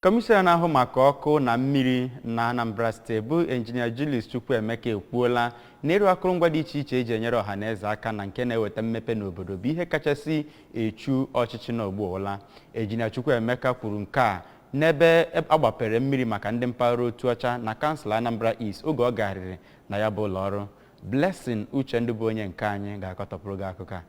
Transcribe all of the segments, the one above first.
Kọmishọna na-ahụ maka ọkụ na mmiri na Anambra steeti bụ Injinia Julius Chukwuemeka ekwuola na ịrụ akụrụngwa dị iche iche eji enyere ọha na eze aka na nke na-eweta mmepe n'obodo bụ ihe kachasị echu ọchịchị nọ ugbu a ụla. Injinia Chukwuemeka kwuru nke a n'ebe agbapere mmiri maka ndị mpaghara Otuocha na kansụl Anambra East oge ọ garịrị na ya bụ ụlọọrụ. Blessing Uchendu bụ onye nke anyị ga-akọtọpụrụ gị akụkọ a.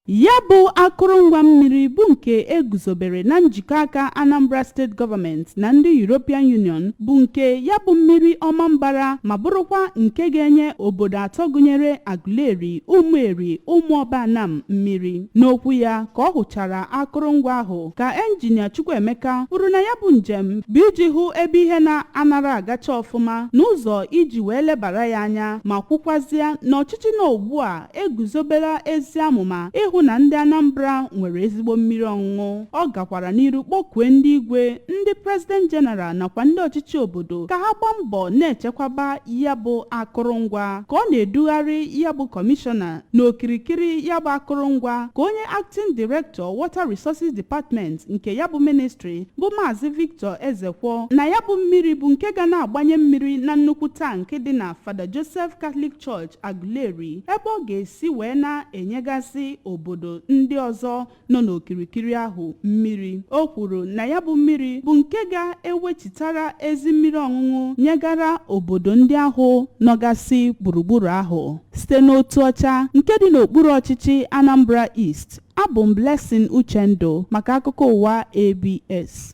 Ya bụ akụrụngwa mmiri bụ nke e guzobere na njikọ aka Anambra State Government na ndị European Union bụ nke ya bụ mmiri Ọmambara ma bụrụkwa nke ga-enye obodo atọ gụnyere Aguleri, Ụmụeri, Ụmụọba Anam mmiri. N'okwu ya ka ọ hụchara akụrụngwa ahụ ka enjinia Chukwuemeka kwuru na ya bụ njem bụ iji hụ ebe ihe na-anara agacha ọfụma n'ụzọ iji wee lebara ya anya ma kwukwazịa na ọchịchị nọ ugbu a eguzobela ezi amụma ịhụ na ndị Anambra nwere ezigbo mmiri ọṅụṅụ ọ gakwara n'iru kpọkue ndị igwe ndị President General nakwa ndị ọchịchị obodo ka ha gbaa mbọ na-echekwaba ya bụ akụrụngwa ka ọ na-edugharị ya bụ kọmishọna n'okirikiri ya bụ akụrụngwa ka onye Acting Director Water Resources Department nke ya bụ ministry bụ Maazị Victor Ezekwo na ya bụ mmiri bụ nke ga na-agbanye mmiri na nnukwu tank dị na Father Joseph Catholic Church Aguleri ebe ọ ga-esi wee na-enyegasị obodo ndị ọzọ nọ n'okirikiri ahụ mmiri o kwuru na ya bụ mmiri bụ nke ga-ewechitara ezi mmiri ọṅụṅụ nyegara obodo ndị ahụ nọgasị gburugburu ahụ site n'Otuocha nke dị n'okpuru ọchịchị Anambra East abụ m Blessing Uchendu maka akụkọ ụwa ABS